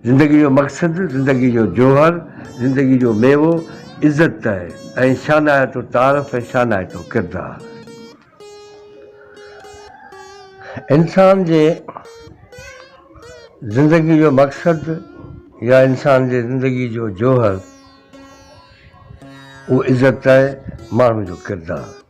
زندگي جو مقصد، زندگي جو جوهر، زندگي جو ميوو عزت ۽ شانائتو تعارف ۽ شانائتو ڪردار. انسان جي زندگي جو مقصد يا انسان جي زندگي جو جوهر اهو عزت آهي، ماڻهو جو ڪردار.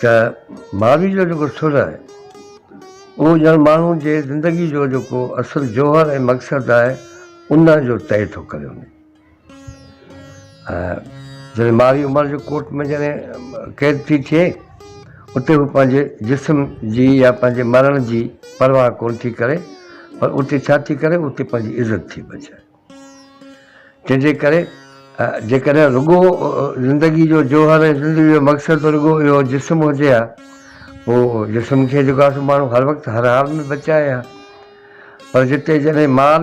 ته ماضي جو جيڪو سر آهي اهو ڄڻ ماڻهو جي زندگي جو جيڪو اصل جوهر ۽ مقصد آهي ان جو طئي ٿو ڪري وڃي ۽ جڏهن ماري عمر جي ڪوٽ ۾ جڏهن قيد ٿي ٿئي اتي هو پنهنجي جسم جي يا پنهنجي مرڻ جي پرواهه ڪونه ٿي ڪري پر اتي ڇا ٿي ڪري اتي پنهنجي عزت ٿي بچائي تنهن جي ڪري جيڪڏهن رڳو زندگي جو جوهر ۽ زندگي جو مقصد رڳو اهو جسم هجي ها پوء جسم کي جيڪو آهي سو ماڻهو هر وقت هر حال ۾ بچائي ها پر جتي جڏهن مال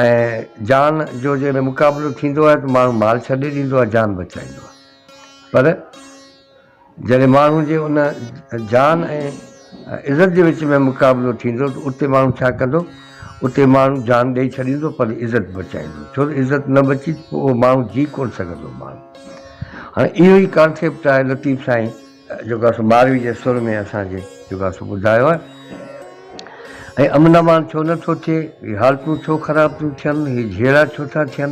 ۽ جان جو جڏهن مقابلو ٿيندو آهي ته ماڻهو مال ڇڏي ڏيندو آهي جان بچائيندو آهي پر جڏهن ماڻهو جي ان جان ۽ عزت جي وچ ۾ مقابلو ٿيندو ته اتي ماڻهو ڇا ڪندو؟ اتي ماڻهو جان ڏئي ڇڏيندو پر عزت بچائيندو ڇو ته عزت نه بچي ته پوء اهو ماڻهو جي ڪونه سگهندو ماڻهو هاڻي اهو ئي ڪانسيپٽ آهي لطيف سائين جيڪو اسان ماروي جي سر ۾ اسان کي جيڪو اسان ٻڌايو آهي ۽ امن امان ڇو نٿو ٿئي هي حالتون ڇو خراب ٿيون ٿين هي جهيڙا ڇو ٿا ٿين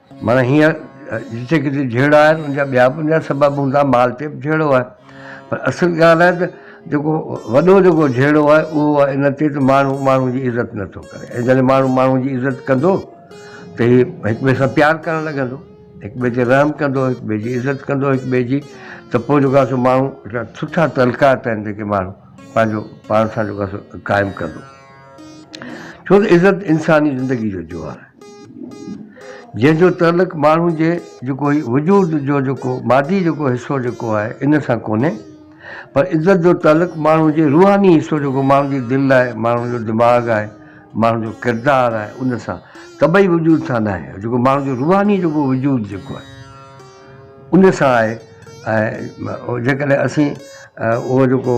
معنيٰ هينئر جتي ڪٿي جهيڙا آهن ان جا ٻيا به ان جا سبب هوندا مال تي به جهيڙو آهي پر اصل ڳالهه آهي ته جيڪو وڏو جيڪو جهيڙو آهي اهو آهي ان تي ته ماڻهو ماڻهو جي عزت نٿو ڪري ۽ جڏهن ماڻهو ماڻهو جي عزت ڪندو ته هي هڪ ٻئي سان پيار ڪرڻ لڳندو هڪ ٻئي تي رحم ڪندو هڪ ٻئي جي عزت ڪندو هڪ ٻئي جي ته پوء جيڪو آهي سو ماڻهو سٺا تعلقات آهن جيڪي ماڻهو پنهنجو پاڻ سان جيڪو آهي سو قائم ڪندو ڇو ته عزت انساني زندگي جو جوهر آهي، جنهن جو تعلق ماڻهو جي جيڪو هي وجود جو جيڪو مادي جيڪو حصو جيڪو آهي ان سان ڪونهي پر عزت جو تعلق ماڻهو جي روحاني حصو جيڪو ماڻهو جي دل آهي، ماڻهو جو دماغ آهي، ماڻهو جو ڪردار آهي ان سان طبعي وجود سان ناهي جيڪو ماڻهو جو روحاني جيڪو وجود جيڪو آهي ان سان آهي ۽ جيڪڏهن اسين اهو جيڪو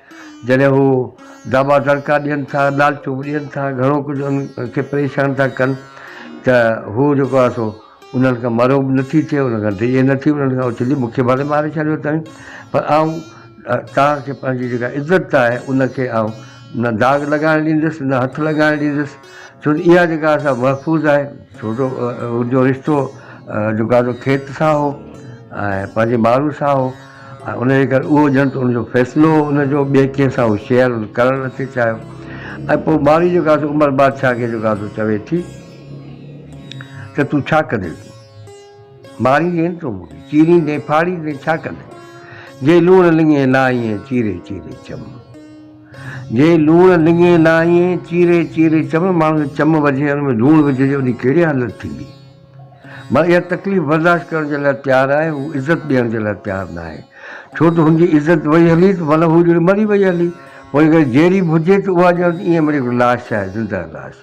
جڏهن هو دٻا دڙڪا ڏين ٿا، لالچون به ڏين ٿا، گهڻو ڪجهه ان کي پريشان ٿا ڪن ته هو جيڪو آهي سو انهن کان مرعوب نه ٿي ٿئي، انهن کان ڊڄي نه ٿي، انهن کان اڇلي مون کي ڀلي ماري ڇڏيو اٿائين پر آئون توهان کي پنهنجي جيڪا عزت آهي ان کي آئون نه داغ لڳائڻ ڏيندس نه هٿ لڳائڻ ڏيندس ڇو ته اها جيڪا آهي سا محفوظ آهي ڇو جو ان جو رشتو جيڪو آهي سو کيت سان هو ۽ پنهنجي ماڻهن سان هو. ۽ انهيء ڪري اهو ڄڻ ته ان جو فيصلو ان جو ٻئي ڪنهن سان هو شيئر ڪرڻ نه ٿي چاهيو ۽ پوء ٻارڙي جيڪا آهي سو عمر بادشاهه کي جيڪو آهي سو چوي ٿي ته تون ڇا ڪندين تون ماريندين تون مون کي چيريندين ڦاڙيندين ڇا ڪندين جي لوڻ لڱين لائينء چيري چيري چم جي لوڻ لڱين لائينء چيري چيري چم ماڻهو چم وجهي ان ۾ لوڻ وجهجي وڃي ڪهڙي حالت ٿيندي مان اها تڪليف برداشت ڪرڻ جي لاء تيار آهي، هو عزت ڏيڻ جي لاء تيار نه آهي، ڇو ته هن جي عزت وئي هلي ته معنيٰ هو ڄڻ مري وئي هلي، پوء اگر جيئري به هجي ته اها ڄڻ ته ائين هڪڙي لاش آهي، زندهه لاش.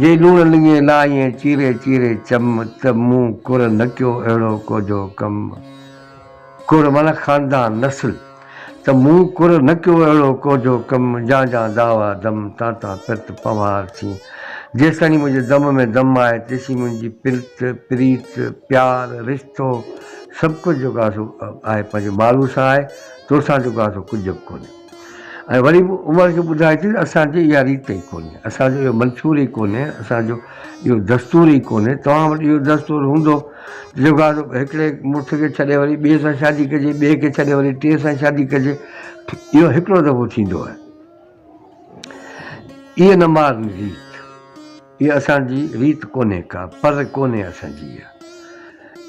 جي لوڻ لڱي لاهيئي چيري چيري چم، ته مون ڪر نه ڪيو اهڙو ڪوجهو ڪم. ڪر معنيٰ خاندان، نسل. ته مون ڪر نه ڪيو اهڙو ڪوجهو ڪم، جان جان دعويٰ دم، تان تان پرت پنوهار سين. جيستائين منهنجي دم ۾ دم آهي، تيسين منهنجي پرت، پريت، پيار، رشتو، سڀڪجهه جيڪو آهي سو آهي پنهنجي مالوء سان آهي، توسان جيڪو آهي سو ڪجهه به ڪونهي. ۽ وري به عمر کي ٻڌائي ٿي ته اسان جي اها ريت ئي ڪونهي، اسان جو اهو منشور ئي ڪونهي، اسان جو اهو دستور ئي ڪونهي، توهان وٽ اهو دستور هوندو ته جيڪو آهي سو هڪڙي مڙس کي ڇڏي وري ٻئي سان شادي ڪجي، ٻئي کي ڇڏي وري ٽئين سان شادي ڪجي، اهو هڪڙو دفعو ٿيندو آهي. ايئن نه مار نه ريت. اها اسان جي ريت ڪونهي ڪا، پر ڪونهي اسان جي اها.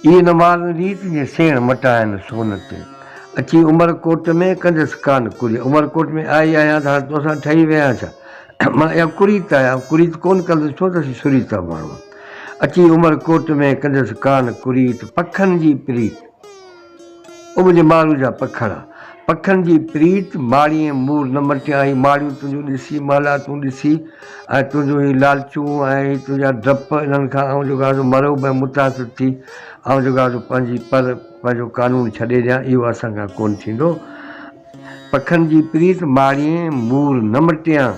اي نه مارن ريت جي سيڻ مٽائن سون تي. اچي عمر ڪوٽ ۾ ڪنديس ڪان ڪري. عمر ڪوٽ ۾ آئي آهيان ته هاڻي تو سان ٺهي ويهان ڇا؟ مڙا اها ڪريت آهي، آئون ڪريت ڪونه ڪندس ڇو ته اسين سريتا ماڻهو آهيون. اچي عمر ڪوٽ ۾ ڪنديس ڪان ڪريت، پکن جي پريت. او منهنجي ماڻهو جا پکڙا. پکن جي پريت ماڙيين مور نه مٽيائين ماڙيون تنهنجون ڏسي مهلا تون ڏسي ۽ تنهنجون هي لالچون ۽ هي تنهنجا ڊپ انهن کان آئون جو گهازو مرعوب ۽ متاثر ٿي آئون جو گهازو پنهنجي پر پنهنجو قانون ڇڏي ڏيان اهو اسان کان ڪونه ٿيندو پکن جي پريت ماڙيين مور نه مٽيان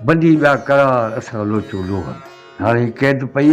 ٻنڊي ٻيا قرار اسان لوچون لونهن هاڻي هي قيد پئي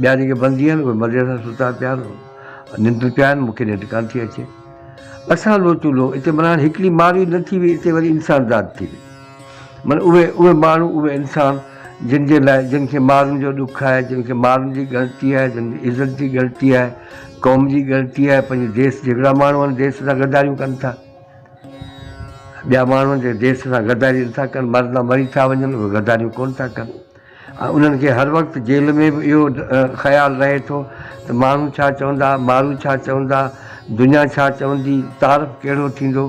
ٻيا جيڪي بندي آهن اهي مزي سان ستا پيا آهن ننڊ پيا آهن مون کي ننڊ ڪانه ٿي اچي اسان لو چولو اتي مانا هاڻي هڪڙي مارئي نه ٿي وئي اتي وري انسان ذات ٿي وئي مانا اهي اهي ماڻهو اهي انسان جن جي لاء جن کي مارن جو ڏک آهي جن کي مارن جي ڳڻتي آهي جن جي عزت جي ڳڻتي آهي قوم جي ڳڻتي آهي پنهنجي ديس جهڙا ماڻهو آهن ديس سان غداريون ڪن ٿا ٻيا ماڻهو جي ديس سان غداري نٿا ڪن مرندا مري ٿا وڃن اهي غداريون ڪونه ٿا ڪن انهن کي هر وقت جيل ۾ به اهو خيال رهي ٿو ته ماڻهو ڇا چوندا، مارو ڇا چوندا، دنيا ڇا چوندي، تعارف ڪهڙو ٿيندو،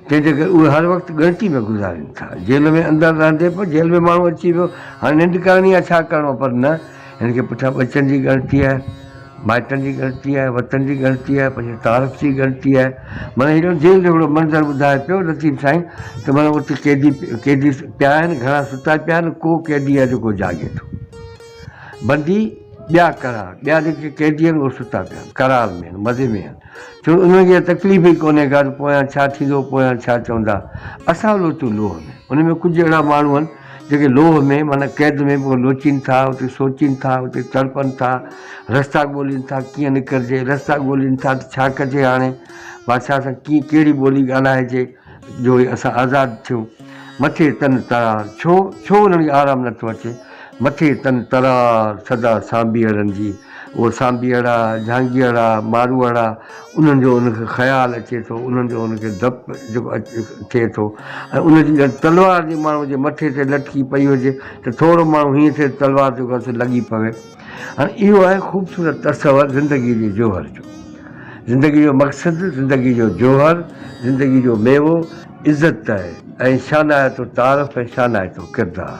تنهن جي ڪري اهي هر وقت ڳڻتي ۾ گذارين ٿا. جيل ۾ اندر رهندي به جيل ۾ ماڻهو اچي ويو، هاڻي ننڊ ڪرڻي آهي، ڇا ڪرڻو آهي، پر نه، هن کي پٺيان ٻچن جي ڳڻتي آهي. مائٽن جي ڳڻتي آهي، وطن جي ڳڻتي آهي، پنهنجي تعارف جي ڳڻتي آهي. معنيٰ هيڏو جيل جهڙو منظر ٻڌائي پيو لطيف سائين ته معنيٰ اتي قيدي قيدي پيا آهن، گهڻا ستا پيا آهن، ڪو قيدي آهي جيڪو جاڳي ٿو. بندي ٻيا ڪرار، ٻيا جيڪي قيدي آهن اهي ستا پيا آهن، قرار ۾ آهن، مزي ۾ آهن. ڇو انهن کي تڪليف ئي ڪونهي ڪا ته پويان ڇا ٿيندو پويان ڇا چوندا. اسان لوچون لوهه ۾. ان ۾ ڪجهه اهڙا ماڻهو آهن جيڪي لوهه ۾ معنيٰ قيد ۾ به لوچين ٿا اتي سوچين ٿا اتي تڙپن ٿا رستا ڳولين ٿا ڪيئن نڪرجي رستا ڳولين ٿا ته ڇا ڪجي هاڻي بادشاهه سان ڪيئن ڪهڙي ٻولي ڳالهائجي. جو هي اسان آزاد ٿيو. مٿي تن ترار، ڇو؟ ڇو انهن کي آرام نه ٿو اچي؟ مٿي تن ترار، سدا سانڀيئڙن جي. اهو سانڀيئڙا، جهانگيئڙا، ماروئڙا، انهن جو ان کي خيال اچي ٿو، انهن جو ان کي ڌپ جيڪو ٿئي ٿو ۽ ان جي ڄڻ تلوار جي ماڻهوء جي مٿي تي لٽڪي پئي هجي ته ٿورو ماڻهو هيئن ٿئي ته تلوار جيڪو آهي سو لڳي پوي. هاڻ اهو آهي خوبصورت تصور زندگيء جي جوهر جو. زندگيء جو مقصد، زندگيء جو جوهر، زندگيء جو ميوو عزت ۽ شانائتو تعارف ۽ شانائتو ڪردار.